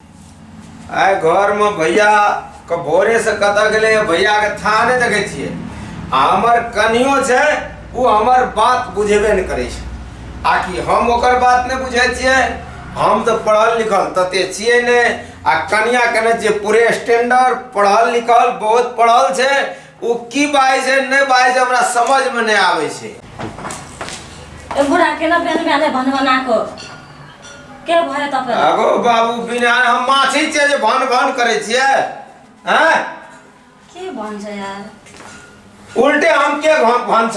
आइ घरमे भैया के भोरे से कतऽ गेलै भैया के था नहि देखै छियै आ हमर कनियो छै ओ हमर बात बुझेबे नहि करै छै आ कि हम ओकर बात नहि बुझै छियै हम तऽ पढ़ल लिखल तते छियै नहि आ कनिया कने जे पूरे स्टैंडर्ड पढ़ल लिखल बहुत पढ़ल छै ओ की बाजै छै नहि बाजै छै हमरा समझमे नहि आबै छै ए बुढ़ा केना बेन बेने भन बना को के भरे त फेर आगो बाबू बिना हम माछी छियै जे भन भन करै छियै हैं के भन्छ यार उल्टे हम के भन भन्छ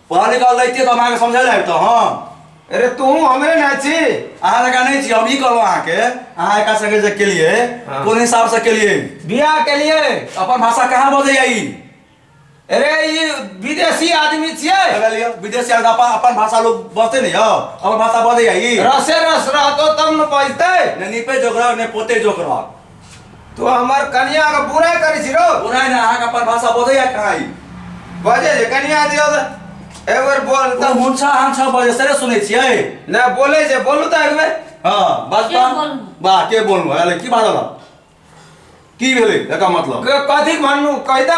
पढ़ लिख लैतिए तऽ हम अहाँके समझै लए अबितहुँ हम अरे तू हमरे ना छी अहाँ लगा नहि छी हम ई कहलहुँ अहाँके अहाँ एका संगे जे केलिए हाँ। कोन हिसाबसँ केलिए बियाह के लिए अपन भाषा कहाँ बजैया ई अरे ई विदेशी आदमी छियै अरे लिअ, विदेशी आदमी अपन अपन भाषा लोग बजते नहि यौ अपन भाषा बजैया ई रसे रस रहतो तब न बजतै ने निपे जोग रह ने पोते जोग रह तू हमर कनिया के बुरा करै छी रो बुराई ना अहाँके अपन भाषा बोधैया कहाँ ई बजे जे कनिया दियो त एक बेर बोल तऽ त मुंछा हम छः बजे सरे सुनै छियै ना बोले जे बोलू त एक बेर हाँ बस के बा बोलू? बा के बोलू अरे की बात होला की भेलै एकर मतलब क- कथी भन्नु कहि त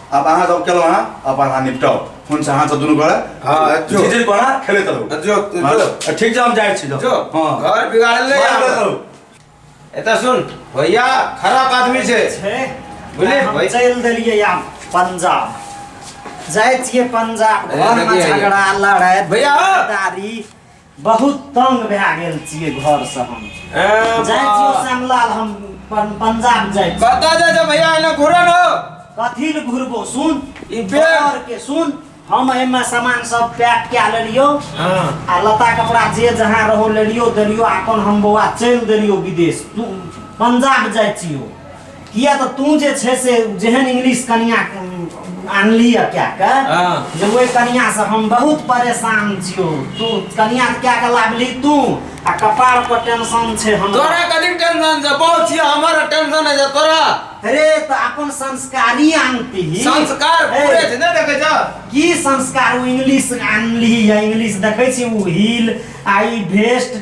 अब अहाँ सब केलहुँ अहाँ अब अहाँ निपटाउ फोन से अहाँ सब दुनू गोरा हाँ, जो। जे जे गोरा खेलैत रहू जो, जो। हाँ, जो। ठीक छै हम जाइ छी जो हाँ घर बिगाड़ल नहीं मार देत आब। रहू। एतऽ सुन भैया खराब आदमी छै छै बुझलियै, हम भाइ? चलि देलियै आब पंजाब जाइ छियै पंजाब अरे, घरमे देखियै, झगड़ा लड़ाइ भैया, हौ। दारी बहुत तंग भए गेल छियै घर से हम ए, जाइ छियो बा- श्यामलाल हम पं- पंजाब जाइ छी कतऽ जाइ छै भैया एने घुरऽ न कथी ले घुरबो सुन ई बेर। घर के सुन हम एहिमे सामान सब पैक कए लेलियो हाँ आ लता कपड़ा जे जहाँ रहो लेलियो देलियो अपन हम बौआ चलि देलियो विदेश तू पंजाब जाइ छियो किया तऽ तू जे छै से जेहन इंग्लिश कनिया आनली है क्या के हाँ। जे ओहि कनिया से हम बहुत परेशान छियो तू कनिया क्या के लाभली तू आ कपार पर टेंशन छे हम तोरा कथी टेंशन छे बहुत छियो हमर टेंशन है तोरा अरे तो अपन संस्कारी आनती ही संस्कार पूरे छे ने देखे जा की संस्कार इंग्लिश आनली है इंग्लिश देखे छी उ हील आई वेस्ट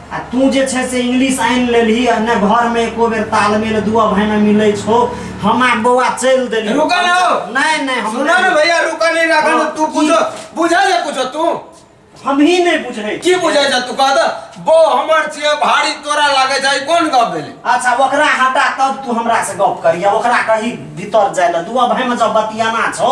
आ तू जे छै से इंग्लिश आनि लेलही आ ने घर में एको बेर तालमेल दुआ भाई में मिले छो हम आ बौआ चल देली रुका ना हो। नहीं नहीं हम सुना ना भैया रुका नहीं रखा ना, तू पूछो बुझा जा कुछो तू हम ही नहीं बुझे की बुझा जा तू कह द बो हमर छिए भारी तोरा लागे जाय कोन गप भेले अच्छा ओकरा हटा तब तू हमरा से गप करिया ओकरा कही भीतर जाए ला दुआ भाई में जब बतियाना छो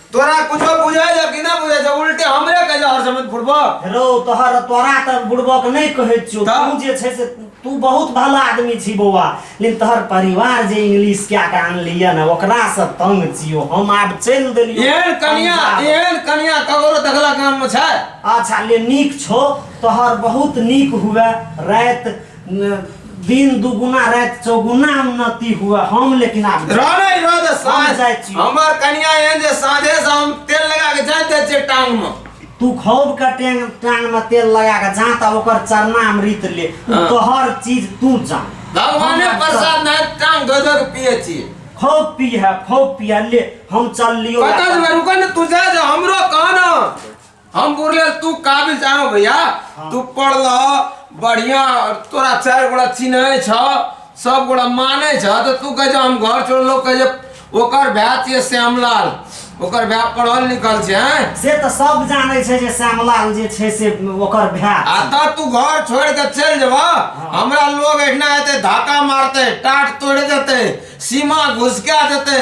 तोरा कुछो बुझाय जा कि ना बुझाय जा उल्टे हमरे कह जा हर समय बुढ़बा रो तोहर तोरा त बुड़बक नै कहै छियो त? तू जे छै से तू बहुत भला आदमी छी बौआ लेकिन तोहर परिवार जे इंग्लिश क्या के आनलिए ना ओकरा से तंग छियो हम आब चल देलियो एहन कनिया पंजाब। एहन कनिया ककरो देखला काम में छै अच्छा ले नीक छो तोहर बहुत नीक हुए रात दिन दुगुना रात चौगुना उन्नति हुआ हम लेकिन आप रहने रह दे साँझ जाय छी। हमर कनिया एहन जे साँझे से हम तेल लगा के जाइत जाइ छियै टांग में तू खौब का टांग टांग में तेल लगा के जा तब ओकर चरना अमृत ले उ हाँ। तोहर चीज तू जा भगवाने हम प्रसाद में टांग धो धो के पिए छियै खौब पी है खौब पिया ले हम चल लियो कतऽ जेबै रुकऽ ने तू जा जा हमरो कह ने हम बोले तू काबिल जानो भैया हाँ। तू पढ़ ल बढ़िया तोरा चार गोड़ा चिन्हे छ सब गोड़ा माने छ तो तू कहे जो हम घर छोड़ लो कहे जो ओकर भै छिए श्यामलाल ओकर भै पढ़ल लिखल छै हैं से त सब जाने छै जे श्यामलाल जे छै से ओकर भै आ त तू घर छोड़ के चल जेबा हाँ। हमरा लोग एठना एते धक्का मारते टाट तोड़ देते सीमा घुसका देते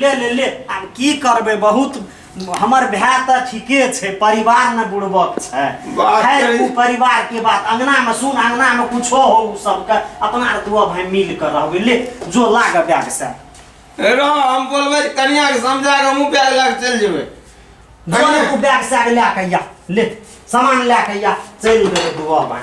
ले ले ले आब की करबै बहुत हमर भाय तऽ ठीके छै परिवार ने बुड़बक छै बात खैर कही। ओ परिवार के बात अंगना में सुन अंगना में कुछो हो उ सबके अपना आर दुआ भाय मिल के रहबै ले जो लाग बैग से रह हम बोलबै कनिया के समझा के हमहूँ बैग लए के चलि जेबै दुआ ने तू बैग से लए के या ले सामान लए के या चलि देबै दुआ भाय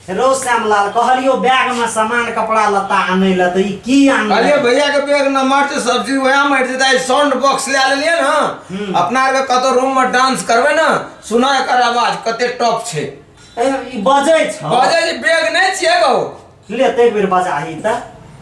हेलो श्यामलाल कहलियो बैग में सामान कपड़ा लत्ता आनै ल त ई की आन अरे भैया के बैग न मर छै सब्जी वएह मर जेता ई साउंड बॉक्स ले लेलिए न हम्म। अपना आर के कतो रूम में डांस करबे न सुना एकर आवाज कते टॉप छै ई बजै छ बजे जे बैग नै छिए गौ ले ते एक बेर बजाही त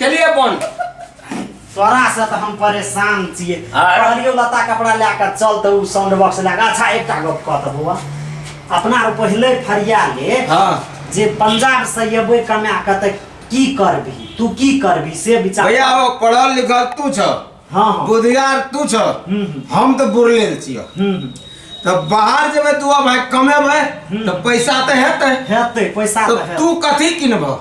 चलिए अपन तोरा से तो हम परेशान छिए आर? कहलियो लता कपड़ा ले कर चल तो उ साउंड बॉक्स ले के अच्छा एकटा गप कह त बौआ अपना आर पहिले फरिया ले हाँ जे पंजाब से अयबै कमा के त की करबी तू की करबी से विचार भैया हो पढ़ल लिखल तू छ हाँ हाँ बुधियार तू छ हम्म, हम्म। हम तो बुरलेल छियो हम्म, हम्म। तो बाहर जेबे तू अब भाई कमेबे तो पैसा तो हेतै हेतै पैसा तो त हेतै तू कथी किनबह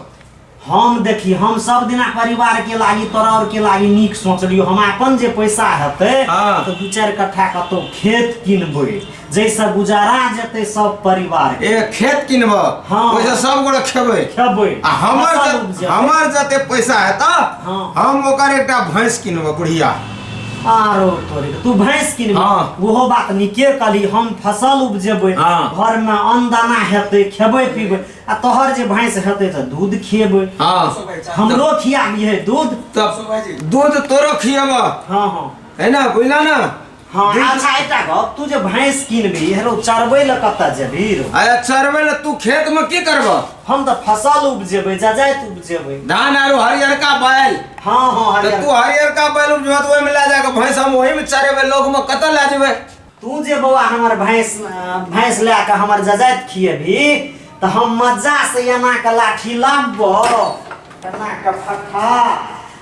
हम देखी हम सब दिना परिवार के लागी तोरा और के लागी नीक सोचलियो हम अपन जे पैसा हेते हाँ। तो दू चार कट्ठा कतौ खेत किनबे जैसे गुजारा जेते सब परिवार के ए खेत किनब हाँ। ओइसे सब गोरे खेबै खेबै आ हमर फसल जे- उपजेबै। हमर जते पैसा हेत हाँ। हम ओकर एकटा भैंस किनब बुढ़िया आरो तोरे के। तू भैंस किनबे हाँ। ओहो बात नीके कहली हम फसल उपजेबै हाँ। घर में अन्न दाना हेते खेबै पीबै आ तोहर जे भैंस हेतै तऽ दूध खिएबै हाँ हमरो खिया दिहे दूध तब दूध तोरो खियाबा हाँ हाँ है ना बुझला ना हाँ अच्छा एकटा गप तू जे भैंस किनबी हेरो चरबै लए कतऽ जेबी रो अरे चरबै लए तू खेत में की करबा हम तऽ फसल उपजेबै जजाइत उपजेबै धान आरो हरियरका बैल हाँ हाँ तऽ हरियर तू हरियरका बैल उपजबा तऽ ओहिमे लए जाके भैंस हम ओहिमे चरेबै लोगमे कतऽ लए जेबै तू जे बौआ हमर भैंस भैंस लए कऽ हमर जजाइत खिएबही तऽ हम मज्जा से एना के लाठी लाबो एना के फक्का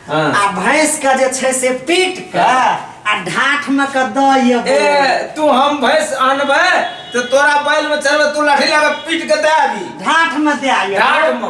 हाँ। आ भैंस के जे छै से पीट के आ ढाठ में के दऽ ए एबो तू हम भैंस आनबे तो तोरा बैल में चढ़बे तू लाठी लगा पीट के दे अभी ढाठ में दे आइए ढाट में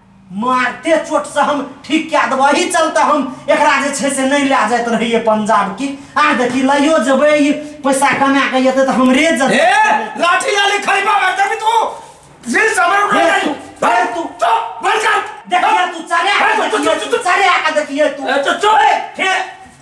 मारते चोटसँ हम ठीक कए देबौ एहि चलते हम एकरा जे छै से नहि लए जाइत रहियै पंजाब की आ देखी लइयो जेबै ई पैसा कमा कऽ एतै तऽ हमरे ए जेतै लाठी लाली खरीबा मार देबी तू जी समर उठा अरे तू, अरे तू। चुप बंद कर देखिए तू चढ़े अरे तू, तू, तू, तू, तू चढ़े आके देखिए तू ए, तू चुप। ए, फेर